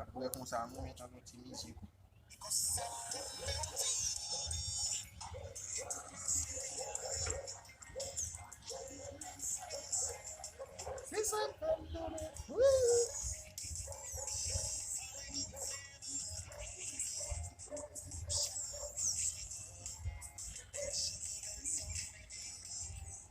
Aprè konsa nou met yon ti mizik.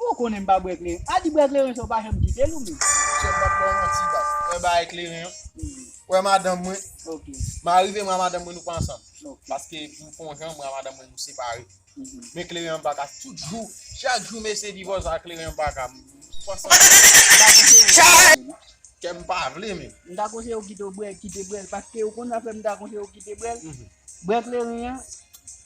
Ou konnen m pa bwè kleren. A di bwè kleren sa ou pa janm kite l ou menm. Chèf m ap ba w manti baz. Mwen bay kleren an. Ou wè madanm mwen. Ok. M arive mwen a madanm mwen nou pa ansanm. Ok. Paske pou fon jan mwen a madanm mwen nou separe. Men kleren an m pa ka tout jou. Chak jou mesye divòs a kleren an m pa ka. M pa ansanm. M ta konseye w pa bwè l. Kè m pa vle men. M ta konseye w kite bwè l. Paske ou konn zafè m ta konseye w kite bwè l. Bwè kleren an.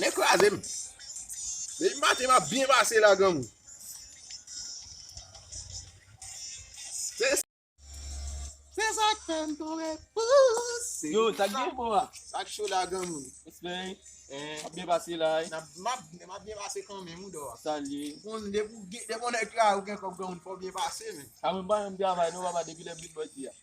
Nèg kraze m. Depi maten map byen pase la granmou. Se sak fèm tonbe pouse. Yo, sak gen bon la. Sak cho la granmou. Espèy, ap byen pase la. Map byen pase kan men mou do. Salye. Kon depi ou gen, depi ou nèg kraze ou gen kòb granmou fò byen pase men. Amon ban yon travay non papa depi lè britboy di a.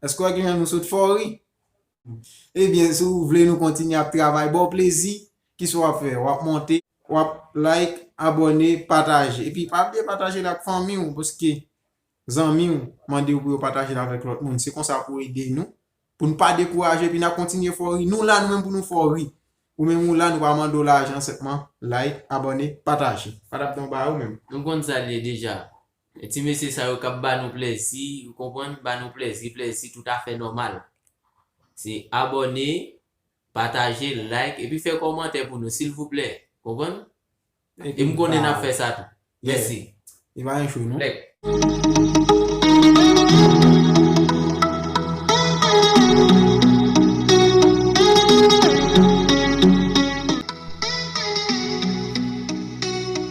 Eske wè kijan nou sot fè w ri? Ebyen si w vle nou kontinye ap travay ba w plezi, kisa w ap fè? W ap monte, w ap like, abòne, pataje. Epi pa bliye pataje l ak fanmi w paske zanmi w mande w pou yo pataje l avèk lòt moun. Se konsa pou w ede nou, pou n pa dekouraje epi n ap kontinye fè w ri. Nou la nou menm pou nou fè w ri. Ou menm ou la nou pa mande w lajan senpman like, abòne, pataje. Patapdonba ou menm? Nou konn sa l ye deja. E ti mesye sa yo kap ba nou plèzi ou konprann ba nou plèzi plèzi tout afè nòmal se abòne pataje like epi fè kòmantè pou nou silvouplè konprann e m konnen nap fè sa tou mèsi e pa yon show non like.